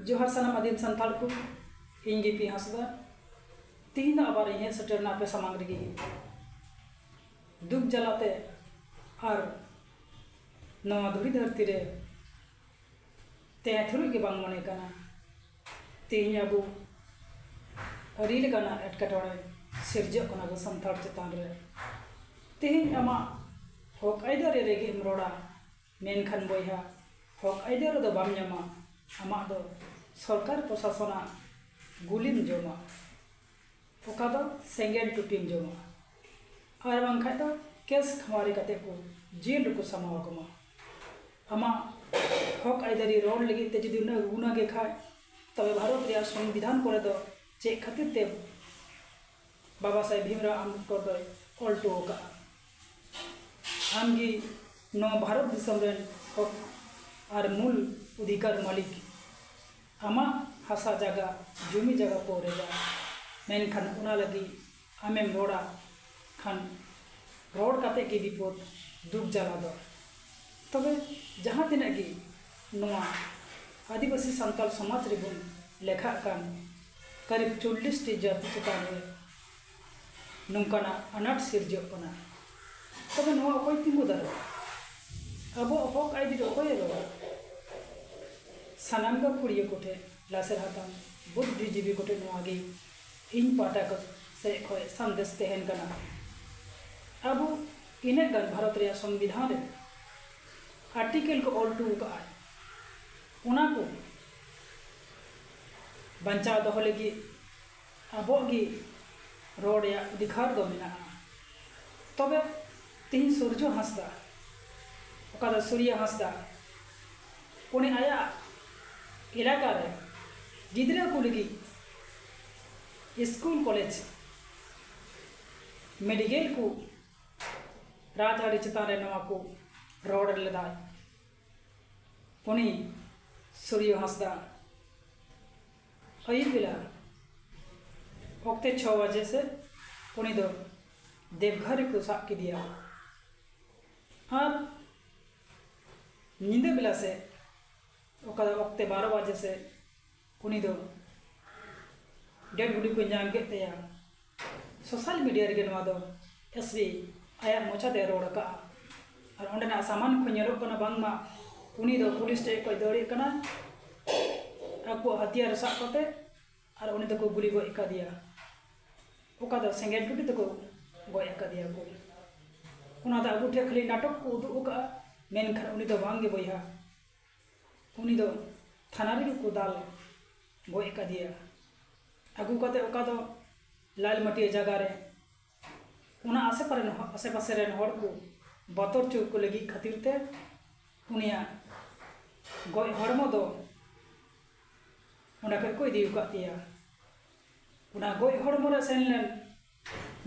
ᱡᱚᱦᱟᱨ ᱥᱟᱱᱟᱢ ᱟᱹᱫᱤᱢ ᱥᱟᱱᱛᱟᱲ ᱠᱚ ᱤᱧ ᱜᱮ ᱯᱤ ᱦᱟᱸᱥᱫᱟ ᱛᱤᱦᱤᱧ ᱫᱚ ᱟᱵᱟᱨ ᱤᱧ ᱦᱮᱡ ᱥᱮᱴᱮᱨᱱᱟ ᱟᱯᱮ ᱥᱟᱢᱟᱝ ᱨᱮᱜᱮ ᱫᱩᱠ ᱡᱟᱞᱟᱛᱮ ᱟᱨ ᱱᱚᱣᱟ ᱫᱷᱩᱲᱤ ᱫᱷᱟᱹᱨᱛᱤ ᱨᱮ ᱛᱟᱦᱮᱸ ᱛᱷᱩᱨᱩᱡ ᱜᱮ ᱵᱟᱝ ᱢᱚᱱᱮ ᱠᱟᱱᱟ ᱛᱤᱦᱤᱧ ᱟᱵᱚ ᱟᱹᱰᱤ ᱞᱮᱠᱟᱱᱟᱜ ᱮᱴᱠᱮᱴᱚᱬᱮ ᱥᱤᱨᱡᱟᱹᱜ ᱠᱟᱱᱟ ᱟᱵᱚ ᱥᱟᱱᱛᱟᱲ ᱪᱮᱛᱟᱱ ᱨᱮ ᱛᱤᱦᱤᱧ ᱟᱢᱟᱜ ᱦᱚᱸᱠ ᱟᱹᱭᱫᱟᱹᱨᱤ ᱨᱮᱜᱮᱢ ᱨᱚᱲᱟ ᱢᱮᱱᱠᱷᱟᱱ ᱵᱚᱭᱦᱟ ᱦᱚᱠ ᱟᱹᱭᱫᱟᱹᱨ ᱟᱫᱚ ᱵᱟᱢ ᱧᱟᱢᱟ ᱟᱢᱟᱜ ᱫᱚ ᱥᱚᱨᱠᱟᱨ ᱯᱨᱚᱥᱟᱥᱚᱱᱟᱜ ᱜᱩᱞᱤᱢ ᱡᱚᱢᱟ ᱚᱠᱟ ᱫᱚ ᱥᱮᱸᱜᱮᱞ ᱴᱩᱴᱤᱢ ᱡᱚᱢᱟ ᱟᱨ ᱵᱟᱝᱠᱷᱟᱱ ᱫᱚ ᱠᱮᱥ ᱠᱷᱟᱹᱣᱟᱨᱤ ᱠᱟᱛᱮ ᱠᱚ ᱡᱮᱞ ᱨᱮᱠᱚ ᱥᱟᱢᱵᱟᱣ ᱠᱟᱢᱟ ᱟᱢᱟᱜ ᱦᱚᱠ ᱟᱹᱭᱫᱟᱹᱨᱤ ᱨᱚᱲ ᱞᱟᱹᱜᱤᱫ ᱛᱮ ᱡᱩᱫᱤ ᱩᱱᱟᱹᱜ ᱮ ᱜᱩᱱᱟᱹ ᱜᱮ ᱠᱷᱟᱱ ᱛᱚᱵᱮ ᱵᱷᱟᱨᱚᱛ ᱨᱮᱭᱟᱜ ᱥᱚᱝᱵᱤᱫᱷᱟᱱ ᱠᱚᱨᱮ ᱫᱚ ᱪᱮᱫ ᱠᱷᱟᱹᱛᱤᱨ ᱛᱮ ᱵᱟᱵᱟ ᱥᱟᱦᱮᱵᱽ ᱵᱷᱤᱢᱨᱟᱣ ᱟᱢᱵᱮᱫᱽᱠᱚᱨ ᱫᱚᱭ ᱚᱞ ᱴᱚ ᱟᱠᱟᱫᱼᱟ ᱟᱢ ᱜᱮ ᱱᱚᱣᱟ ᱵᱷᱟᱨᱚᱛ ᱫᱤᱥᱚᱢ ᱨᱮᱱ ᱦᱚᱠ ᱟᱨ ᱢᱩᱞ ᱚᱫᱷᱤᱠᱟᱨ ᱢᱟᱹᱞᱤᱠ ᱟᱢᱟᱜ ᱦᱟᱥᱟ ᱡᱟᱭᱜᱟ ᱡᱩᱢᱤ ᱡᱟᱭᱜᱟ ᱠᱚ ᱨᱮᱡᱟ ᱢᱮᱱᱠᱷᱟᱱ ᱚᱱᱟ ᱞᱟᱹᱜᱤᱫ ᱟᱢᱮᱢ ᱨᱚᱲᱟ ᱠᱷᱟᱱ ᱨᱚᱲ ᱠᱟᱛᱮᱫ ᱜᱮ ᱵᱤᱯᱚᱫᱽ ᱫᱩᱠ ᱡᱟᱞᱟ ᱫᱚ ᱛᱚᱵᱮ ᱡᱟᱦᱟᱸ ᱛᱤᱱᱟᱹᱜ ᱜᱮ ᱱᱚᱣᱟ ᱟᱹᱫᱤᱵᱟᱹᱥᱤ ᱥᱟᱱᱛᱟᱲ ᱥᱚᱢᱟᱡᱽ ᱨᱮᱵᱚᱱ ᱞᱮᱠᱷᱟᱜ ᱠᱟᱱ ᱠᱟᱨᱤᱵᱽ ᱪᱚᱞᱞᱤᱥ ᱴᱤ ᱡᱟᱹᱛᱤ ᱪᱮᱛᱟᱱ ᱨᱮ ᱱᱚᱝᱠᱟᱱᱟᱜ ᱟᱱᱟᱴ ᱥᱤᱨᱡᱟᱹᱜ ᱠᱟᱱᱟ᱾ ᱛᱚᱵᱮ ᱱᱚᱣᱟ ᱚᱠᱚᱭ ᱛᱤᱸᱜᱩ ᱫᱟᱨᱟᱢᱟ? ᱟᱵᱚᱣᱟᱜ ᱦᱚᱠ ᱟᱹᱭᱫᱤᱨ ᱚᱠᱚᱭᱮ ᱨᱚᱲᱟ? ᱥᱟᱱᱟᱢ ᱜᱟᱹᱠᱷᱩᱲᱤᱭᱟᱹ ᱠᱚᱴᱷᱮᱱ, ᱞᱟᱥᱮᱨ ᱦᱟᱛᱟᱝ ᱵᱩᱫᱫᱷᱤᱡᱤᱵᱤ ᱠᱚᱴᱷᱮᱱ ᱱᱚᱣᱟ ᱜᱮ ᱤᱧ ᱯᱟᱦᱴᱟ ᱥᱮᱡ ᱠᱷᱚᱡ ᱥᱟᱸᱫᱮᱥ ᱛᱮᱦᱮᱱ ᱠᱟᱱᱟ᱾ ᱟᱵᱚ ᱤᱱᱟᱹᱜ ᱜᱟᱱ ᱵᱷᱟᱨᱚᱛ ᱨᱮᱭᱟᱜ ᱥᱚᱝᱵᱤᱫᱷᱟᱱ ᱨᱮ ᱟᱨᱴᱤᱠᱮᱞ ᱠᱚ ᱚᱞ ᱴᱩᱣ ᱠᱟᱜᱼᱟᱭ ᱚᱱᱟ ᱠᱚ ᱵᱟᱧᱪᱟᱣ ᱫᱚᱦᱚ ᱞᱟᱹᱜᱤᱫ ᱟᱵᱚᱣᱟᱜ ᱜᱮ ᱨᱚᱲ ᱨᱮᱭᱟᱜ ᱚᱫᱷᱤᱠᱟᱨ ᱫᱚ ᱢᱮᱱᱟᱜᱼᱟ ᱛᱚᱵᱮ ᱛᱮᱦᱮᱧ ᱥᱩᱨᱡᱚ ᱦᱟᱸᱥᱫᱟ ᱚᱠᱟ ᱫᱚ ᱥᱩᱨᱭᱚ ᱦᱟᱸᱥᱫᱟ ᱩᱱᱤ ᱟᱭᱟᱜ ᱮᱞᱟᱠᱟ ᱨᱮ ᱜᱤᱫᱽᱨᱟᱹ ᱠᱚ ᱞᱟᱹᱜᱤᱫ ᱥᱠᱩᱞ ᱠᱚᱞᱮᱡᱽ ᱢᱮᱰᱤᱠᱮᱞ ᱠᱚ ᱨᱟᱡᱽᱟᱹᱨᱤ ᱪᱮᱛᱟᱱ ᱨᱮ ᱱᱚᱣᱟ ᱠᱚ ᱨᱚᱲ ᱞᱮᱫᱟᱭ ᱩᱱᱤ ᱥᱩᱨᱭᱚ ᱦᱟᱸᱥᱫᱟ ᱟᱹᱭᱩᱵ ᱵᱮᱞᱟ ᱚᱠᱛᱮ ᱪᱷᱚ ᱵᱟᱡᱮ ᱥᱮᱫ ᱩᱱᱤ ᱫᱚ ᱫᱮᱵᱜᱷᱚᱨ ᱨᱮᱠᱚ ᱥᱟᱵ ᱠᱮᱫᱮᱭᱟ ᱟᱨ ᱧᱤᱫᱟᱹ ᱵᱮᱞᱟ ᱥᱮᱫ ᱚᱠᱟ ᱚᱠᱛᱮ ᱵᱟᱨᱚ ᱵᱟᱡᱮ ᱥᱮᱫ ᱩᱱᱤ ᱫᱚ ᱰᱮᱰ ᱵᱚᱰᱤ ᱠᱚ ᱧᱟᱢ ᱠᱮᱫ ᱛᱟᱭᱟ᱾ ᱥᱳᱥᱟᱞ ᱢᱤᱰᱤᱭᱟ ᱨᱮᱜᱮ ᱱᱚᱣᱟ ᱫᱚ ᱮᱥ ᱵᱤ ᱟᱭᱟᱜ ᱢᱚᱪᱟ ᱛᱮᱭ ᱨᱚᱲ ᱟᱠᱟᱫᱼᱟ ᱟᱨ ᱚᱸᱰᱮᱱᱟᱜ ᱥᱟᱢᱟᱱ ᱠᱷᱚᱱ ᱧᱮᱞᱚᱜ ᱠᱟᱱᱟ ᱵᱟᱝᱢᱟ ᱩᱱᱤ ᱫᱚ ᱯᱩᱞᱤᱥ ᱴᱷᱮᱱ ᱠᱷᱚᱱ ᱫᱟᱹᱲᱮᱫ ᱠᱟᱱᱟᱭ ᱟᱠᱚᱣᱟᱜ ᱦᱟᱹᱛᱤᱭᱟᱨ ᱥᱟᱵ ᱠᱟᱛᱮ ᱟᱨ ᱩᱱᱤ ᱫᱚᱠᱚ ᱜᱩᱞᱤ ᱜᱚᱡ ᱟᱠᱟᱫᱮᱭᱟ ᱚᱠᱟ ᱫᱚ ᱥᱮᱸᱜᱮᱞ ᱴᱩᱴᱤ ᱛᱮᱠᱚ ᱜᱚᱡ ᱟᱠᱟᱫᱮᱭᱟ ᱠᱚ ᱚᱱᱟ ᱫᱚ ᱟᱵᱚ ᱴᱷᱮᱱ ᱠᱷᱟᱹᱞᱤ ᱱᱟᱴᱚᱠ ᱠᱚ ᱩᱫᱩᱜ ᱟᱠᱟᱫᱼᱟ ᱢᱮᱱᱠᱷᱟᱱ ᱩᱱᱤ ᱫᱚ ᱵᱟᱝᱜᱮ ᱵᱚᱭᱦᱟ ᱩᱱᱤ ᱫᱚ ᱛᱷᱟᱱᱟ ᱨᱮᱜᱮ ᱠᱚ ᱫᱟᱞ ᱜᱚᱡ ᱟᱠᱟᱫᱮᱭᱟ ᱟᱹᱜᱩ ᱠᱟᱛᱮᱫ ᱚᱠᱟ ᱫᱚ ᱞᱟᱞ ᱢᱟᱹᱴᱭᱟᱹᱲ ᱡᱟᱭᱜᱟ ᱨᱮ ᱚᱱᱟ ᱟᱥᱮ ᱯᱟᱨᱮ ᱨᱮᱱ ᱟᱥᱮ ᱯᱟᱥᱮ ᱨᱮᱱ ᱦᱚᱲ ᱠᱚ ᱵᱚᱛᱚᱨ ᱦᱚᱪᱚ ᱠᱚ ᱞᱟᱹᱜᱤᱫ ᱠᱷᱟᱹᱛᱤᱨ ᱛᱮ ᱩᱱᱤᱭᱟᱜ ᱜᱚᱡ ᱦᱚᱲᱢᱚ ᱫᱚ ᱚᱸᱰᱮ ᱠᱷᱚᱱ ᱠᱚ ᱤᱫᱤ ᱟᱠᱟᱫᱮᱭᱟ ᱚᱱᱟ ᱜᱚᱡ ᱦᱚᱲᱢᱚ ᱨᱮ ᱥᱮᱱ ᱞᱮᱱ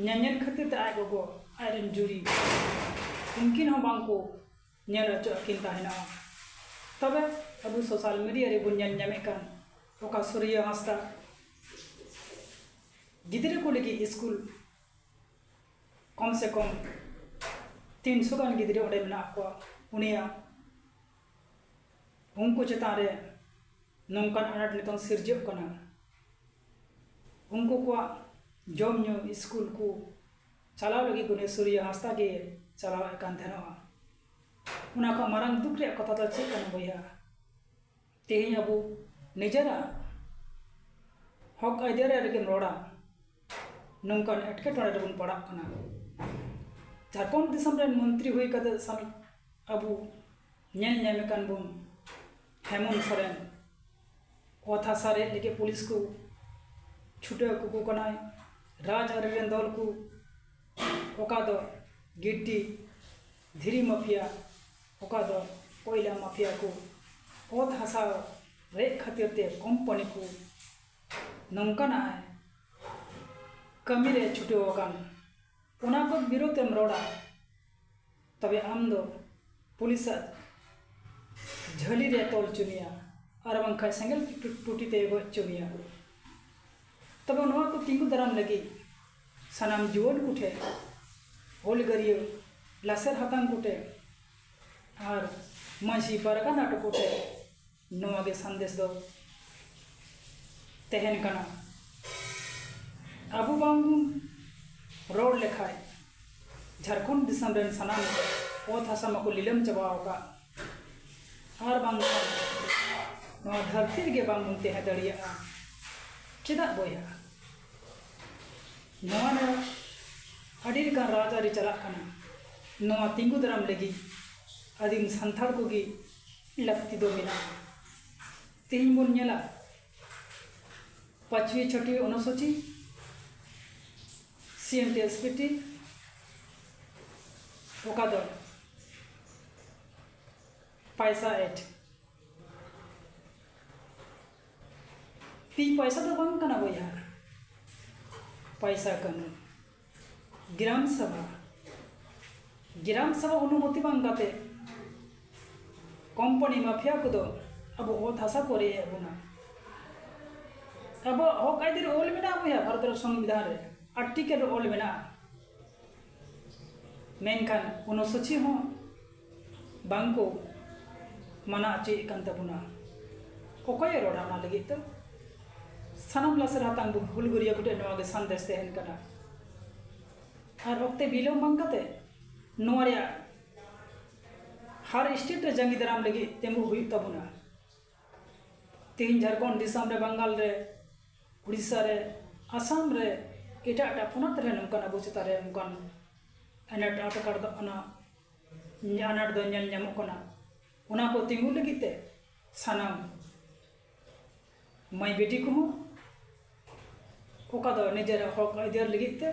ᱧᱮᱧᱮᱞ ᱠᱷᱟᱹᱛᱤᱨ ᱛᱮ ᱟᱡ ᱜᱚᱜᱚ ᱟᱡ ᱨᱮᱱ ᱡᱩᱨᱤ ᱩᱱᱠᱤᱱ ᱦᱚᱸ ᱵᱟᱝ ᱠᱚ ᱧᱮᱞ ᱚᱪᱚᱜ ᱟᱹᱠᱤᱱ ᱛᱟᱦᱮᱱᱚᱜᱼᱟ᱾ ᱛᱚᱵᱮ ᱟᱵᱚ ᱥᱚᱥᱟᱞ ᱢᱤᱰᱤᱭᱟ ᱨᱮ ᱵᱚᱱ ᱧᱮᱞ ᱧᱟᱢᱮᱫ ᱠᱟᱱ ᱚᱠᱟ ᱥᱩᱨᱭᱚ ᱦᱟᱸᱥᱫᱟ ᱜᱤᱫᱽᱨᱟᱹ ᱠᱚ ᱞᱟᱹᱜᱤᱫ ᱤᱥᱠᱩᱞ ᱠᱚᱢ ᱥᱮ ᱠᱚᱢ ᱛᱤᱱᱥᱚ ᱜᱟᱱ ᱜᱤᱫᱽᱨᱟᱹ ᱚᱸᱰᱮ ᱢᱮᱱᱟᱜ ᱠᱚᱣᱟ ᱩᱱᱤᱭᱟᱜ ᱩᱱᱠᱩ ᱪᱮᱛᱟᱱ ᱨᱮ ᱱᱚᱝᱠᱟᱱ ᱟᱱᱟᱴ ᱱᱤᱛᱚᱝ ᱥᱤᱨᱡᱟᱹᱜ ᱠᱟᱱᱟ ᱩᱱᱠᱩ ᱠᱚᱣᱟᱜ ᱡᱚᱢ ᱧᱩ ᱤᱥᱠᱩᱞ ᱠᱚ ᱪᱟᱞᱟᱣ ᱞᱟᱹᱜᱤᱫ ᱜᱩᱱᱮᱥᱣᱚᱨᱤᱭᱚ ᱦᱟᱸᱥᱫᱟ ᱜᱮ ᱪᱟᱞᱟᱣ ᱮᱫ ᱠᱟᱱ ᱛᱟᱦᱮᱱᱚᱜᱼᱟ᱾ ᱚᱱᱟ ᱠᱷᱚᱱ ᱢᱟᱨᱟᱝ ᱫᱩᱠ ᱨᱮᱭᱟᱜ ᱠᱟᱛᱷᱟ ᱫᱚ ᱪᱮᱫ ᱠᱟᱱᱟ ᱵᱚᱭᱦᱟ? ᱛᱮᱦᱮᱧ ᱟᱵᱚ ᱱᱤᱡᱮᱨᱟᱜ ᱦᱚᱠ ᱟᱹᱭᱫᱟᱹᱨ ᱨᱮᱭᱟᱜ ᱨᱮᱜᱮᱢ ᱨᱚᱲᱟ, ᱱᱚᱝᱠᱟᱱ ᱮᱴᱠᱮᱴᱚᱬᱮ ᱨᱮᱵᱚᱱ ᱯᱟᱲᱟᱜ ᱠᱟᱱᱟ᱾ ᱡᱷᱟᱨᱠᱷᱚᱸᱰ ᱫᱤᱥᱚᱢ ᱨᱮᱱ ᱢᱚᱱᱛᱨᱤ ᱦᱩᱭ ᱠᱟᱛᱮ ᱥᱟᱢᱤᱛ ᱟᱵᱚ ᱧᱮᱞ ᱧᱟᱢᱮ ᱠᱟᱱ ᱵᱚᱱ ᱦᱮᱢᱚᱱᱛ ᱥᱚᱨᱮᱱ ᱚᱛ ᱦᱟᱥᱟ ᱨᱮᱡ ᱞᱟᱹᱜᱤᱫ ᱯᱩᱞᱤᱥ ᱠᱚ ᱪᱷᱩᱴᱟᱹᱣ ᱠᱟᱠᱚ ᱠᱟᱱᱟᱭ ᱨᱟᱡᱽ ᱟᱹᱨᱤ ᱨᱮᱱ ᱫᱚᱞ ᱠᱚ ᱚᱠᱟ ᱫᱚ ᱜᱤᱴᱴᱤ ᱫᱷᱤᱨᱤ ᱢᱟᱯᱷᱤᱭᱟ ᱚᱠᱟ ᱫᱚ ᱠᱚᱭᱞᱟ ᱢᱟᱯᱷᱤᱭᱟ ᱠᱚ ᱚᱛ ᱦᱟᱥᱟ ᱨᱮᱡ ᱠᱷᱟᱹᱛᱤᱨ ᱛᱮ ᱠᱚᱢᱯᱟᱹᱱᱤ ᱠᱚ ᱱᱚᱝᱠᱟᱱᱟᱜ ᱮ ᱠᱟᱹᱢᱤ ᱨᱮ ᱪᱷᱩᱴᱟᱹᱣ ᱟᱠᱟᱱ ᱚᱱᱟ ᱠᱚ ᱵᱤᱨᱩᱫᱷ ᱮᱢ ᱨᱚᱲᱟ ᱛᱚᱵᱮ ᱟᱢ ᱫᱚ ᱯᱩᱞᱤᱥ ᱟᱜ ᱡᱷᱟᱹᱞᱤ ᱨᱮ ᱛᱚᱞ ᱦᱚᱪᱚ ᱢᱮᱭᱟ ᱟᱨ ᱵᱟᱝᱠᱷᱟᱱ ᱥᱮᱸᱜᱮᱞ ᱴᱩᱴᱤ ᱛᱮ ᱜᱚᱡ ᱦᱚᱪᱚ ᱢᱮᱭᱟ ᱛᱚᱵᱮ ᱱᱚᱣᱟ ᱠᱚ ᱛᱤᱸᱜᱩ ᱫᱟᱨᱟᱢ ᱞᱟᱹᱜᱤᱫ ᱥᱟᱱᱟᱢ ᱡᱩᱣᱟᱹᱱ ᱠᱚᱴᱷᱮᱱ ᱦᱩᱞᱜᱟᱹᱨᱤᱭᱟᱹ ᱞᱟᱥᱮᱨ ᱦᱟᱛᱟᱝ ᱠᱚᱴᱷᱮᱱ ᱟᱨ ᱢᱟᱺᱡᱷᱤ ᱯᱟᱨᱜᱟᱱᱟ ᱠᱚᱴᱷᱮᱱ ᱱᱚᱣᱟ ᱜᱮ ᱥᱟᱸᱫᱮᱥ ᱫᱚ ᱛᱟᱦᱮᱱ ᱠᱟᱱᱟ ᱟᱵᱚ ᱵᱟᱝ ᱵᱚᱱ ᱨᱚᱲ ᱞᱮᱠᱷᱟᱱ ᱡᱷᱟᱲᱠᱷᱚᱸᱰ ᱫᱤᱥᱚᱢ ᱨᱮᱱ ᱥᱟᱱᱟᱢ ᱚᱛ ᱦᱟᱥᱟ ᱢᱟᱠᱚ ᱞᱤᱞᱟᱹᱢ ᱪᱟᱵᱟ ᱟᱠᱟᱫ ᱟᱨ ᱵᱟᱝᱠᱷᱟᱱ ᱱᱚᱣᱟ ᱫᱷᱟᱹᱨᱛᱤ ᱨᱮᱜᱮ ᱵᱟᱝ ᱵᱚᱱ ᱛᱟᱦᱮᱸ ᱫᱟᱲᱮᱭᱟᱜᱼᱟ ᱪᱮᱫᱟᱜ ᱵᱚᱭᱦᱟ ᱱᱚᱣᱟ ᱨᱮ ᱟᱹᱰᱤ ᱞᱮᱠᱟᱱ ᱨᱟᱡᱽᱟᱹᱨᱤ ᱪᱟᱞᱟᱜ ᱠᱟᱱᱟ ᱱᱚᱣᱟ ᱛᱤᱸᱜᱩ ᱫᱟᱨᱟᱢ ᱞᱟᱹᱜᱤᱫ ᱟᱹᱫᱤᱢ ᱥᱟᱱᱛᱟᱲ ᱠᱚᱜᱮ ᱞᱟᱹᱠᱛᱤ ᱫᱚ ᱢᱮᱱᱟᱜᱼᱟ ᱛᱮᱦᱮᱧ ᱵᱚᱱ ᱧᱮᱞᱟ ᱯᱟᱸᱪᱣᱤ ᱪᱷᱚᱴᱤ ᱚᱱᱩᱥᱩᱪᱤ C N T S P T ᱚᱠᱟ ᱫᱚ ᱯᱟᱭᱥᱟ ᱮᱴ ᱛᱤᱧ ᱯᱚᱭᱥᱟ ᱫᱚ ᱵᱟᱝ ᱠᱟᱱᱟ ᱵᱚᱭᱦᱟ ᱯᱚᱭᱥᱟ ᱠᱟᱹᱱᱩᱱ ᱜᱨᱟᱢ ᱥᱚᱵᱷᱟ ᱜᱨᱟᱢ ᱥᱚᱵᱷᱟ ᱚᱱᱩᱢᱚᱛᱤ ᱵᱟᱝ ᱠᱟᱛᱮ ᱠᱚᱢᱯᱟᱱᱤ ᱢᱟᱯᱷᱤᱭᱟ ᱠᱚᱫᱚ ᱟᱵᱚ ᱚᱛ ᱦᱟᱥᱟ ᱠᱚ ᱨᱮᱡ ᱮᱫ ᱵᱚᱱᱟ ᱟᱵᱚᱣᱟᱜ ᱦᱚᱠ ᱟᱹᱭᱫᱟᱹᱨ ᱚᱞ ᱢᱮᱱᱟᱜᱼᱟ ᱵᱚᱭᱦᱟ ᱵᱷᱟᱨᱚᱛ ᱨᱮ ᱥᱚᱝᱵᱤᱫᱷᱟᱱ ᱨᱮ ᱟᱨᱴᱤᱠᱮᱞ ᱨᱮ ᱚᱞ ᱢᱮᱱᱟᱜᱼᱟ ᱢᱮᱱᱠᱷᱟᱱ ᱚᱱᱩᱥᱩᱪᱤ ᱦᱚᱸ ᱵᱟᱝ ᱠᱚ ᱢᱟᱱᱟ ᱚᱪᱚᱭᱮᱫ ᱠᱟᱱ ᱛᱟᱵᱚᱱᱟ ᱚᱠᱚᱭᱮ ᱨᱚᱲᱟ ᱚᱱᱟ ᱞᱟᱹᱜᱤᱫ ᱫᱚ ᱥᱟᱱᱟᱢ ᱞᱟᱥᱮᱨ ᱦᱟᱛᱟᱝ ᱦᱩᱞᱜᱟᱹᱨᱤᱭᱟᱹ ᱠᱚᱴᱷᱮᱱ ᱱᱚᱣᱟ ᱜᱮ ᱥᱟᱸᱫᱮᱥ ᱛᱟᱦᱮᱱ ᱠᱟᱱᱟ ᱟᱨ ᱚᱠᱛᱮ ᱵᱤᱞᱚᱢ ᱵᱟᱝ ᱠᱟᱛᱮ ᱱᱚᱣᱟ ᱨᱮᱭᱟᱜ ᱦᱟᱨ ᱥᱴᱮᱴ ᱨᱮ ᱡᱟᱸᱜᱮ ᱫᱟᱨᱟᱢ ᱞᱟᱹᱜᱤᱫ ᱛᱤᱸᱜᱩ ᱦᱩᱭᱩᱜ ᱛᱟᱵᱚᱱᱟ ᱛᱮᱦᱮᱧ ᱡᱷᱟᱲᱠᱷᱚᱸᱰ ᱫᱤᱥᱚᱢ ᱨᱮ ᱵᱟᱝᱜᱟᱞ ᱨᱮ ᱩᱲᱤᱥᱥᱟ ᱨᱮ ᱟᱥᱟᱢ ᱨᱮ ᱮᱴᱟᱜ ᱮᱴᱟᱜ ᱯᱚᱱᱚᱛ ᱨᱮ ᱱᱚᱝᱠᱟᱱ ᱟᱵᱚ ᱪᱮᱛᱟᱱ ᱨᱮ ᱱᱚᱝᱠᱟᱱ ᱟᱱᱟᱴ ᱮᱴᱠᱮᱴᱚᱬᱮ ᱫᱚ ᱚᱱᱟ ᱟᱱᱟᱴ ᱫᱚ ᱧᱮᱞ ᱧᱟᱢᱚᱜ ᱠᱟᱱᱟ ᱚᱱᱟ ᱠᱚ ᱛᱤᱸᱜᱩ ᱞᱟᱹᱜᱤᱫ ᱛᱮ ᱥᱟᱱᱟᱢ ᱢᱟᱹᱭ ᱵᱤᱴᱤ ᱠᱚᱦᱚᱸ ᱚᱠᱟ ᱫᱚ ᱱᱤᱡᱮᱨᱟᱜ ᱦᱚᱸᱠ ᱟᱹᱭᱫᱟᱹᱨ ᱞᱟᱹᱜᱤᱫ ᱛᱮ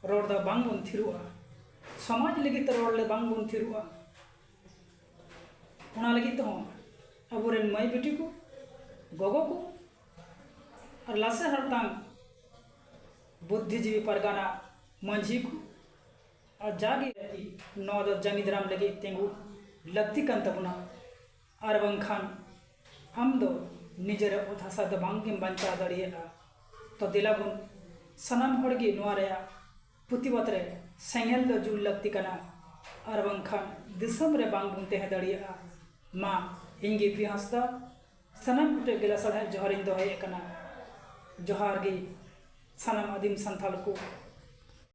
ᱨᱚᱲ ᱫᱚ ᱵᱟᱝ ᱵᱚᱱ ᱛᱷᱤᱨᱚᱜᱼᱟ ᱥᱚᱢᱟᱡᱽ ᱞᱟᱹᱜᱤᱫ ᱛᱮ ᱨᱚᱲ ᱞᱮ ᱵᱟᱝ ᱵᱚᱱ ᱛᱷᱤᱨᱚᱜᱼᱟ ᱚᱱᱟ ᱞᱟᱹᱜᱤᱫ ᱛᱮᱦᱚᱸ ᱟᱵᱚ ᱨᱮᱱ ᱢᱟᱹᱭ ᱵᱤᱴᱤ ᱠᱚ ᱜᱚᱜᱚ ᱠᱚ ᱟᱨ ᱞᱟᱥᱮᱨ ᱦᱟᱛᱟᱝ ᱵᱩᱫᱽᱫᱷᱤᱡᱤᱵᱤ ᱯᱟᱨᱜᱟᱱᱟ ᱢᱟᱹᱡᱷᱤ ᱠᱚ ᱟᱨ ᱡᱟᱜᱮ ᱱᱚᱣᱟ ᱫᱚ ᱡᱟᱸᱜᱮ ᱫᱟᱨᱟᱢ ᱞᱟᱹᱜᱤᱫ ᱛᱤᱸᱜᱩ ᱞᱟᱹᱠᱛᱤ ᱠᱟᱱ ᱛᱟᱵᱚᱱᱟ ᱟᱨ ᱵᱟᱝᱠᱷᱟᱱ ᱟᱢ ᱫᱚ ᱱᱤᱡᱮᱨᱟᱜ ᱚᱛ ᱦᱟᱥᱟ ᱫᱚ ᱵᱟᱝ ᱜᱮᱢ ᱵᱟᱧᱪᱟᱣ ᱫᱟᱲᱮᱭᱟᱜᱼᱟ ᱛᱚ ᱫᱮᱞᱟ ᱵᱚᱱ ᱥᱟᱱᱟᱢ ᱦᱚᱲ ᱜᱮ ᱱᱚᱣᱟ ᱨᱮᱭᱟᱜ ᱯᱨᱚᱛᱤᱵᱟᱫᱽ ᱨᱮ ᱥᱮᱸᱜᱮᱞ ᱫᱚ ᱡᱩᱞ ᱞᱟᱹᱠᱛᱤ ᱠᱟᱱᱟ ᱟᱨ ᱵᱟᱝᱠᱷᱟᱱ ᱫᱤᱥᱚᱢ ᱨᱮ ᱵᱟᱝ ᱵᱚᱱ ᱛᱟᱦᱮᱸ ᱫᱟᱲᱮᱭᱟᱜᱼᱟ ᱢᱟ ᱤᱧ ᱜᱮ ᱯᱤ ᱦᱟᱸᱥᱫᱟ ᱥᱟᱱᱟᱢ ᱠᱚᱴᱷᱮᱱ ᱜᱮ ᱞᱟᱥᱟᱲᱦᱮᱫ ᱡᱚᱦᱟᱨ ᱤᱧ ᱫᱚᱦᱚᱭᱮᱫ ᱠᱟᱱᱟ ᱡᱚᱦᱟᱨ ᱜᱮ ᱥᱟᱱᱟᱢ ᱟᱹᱫᱤᱢ ᱥᱟᱱᱛᱟᱲ ᱠᱚ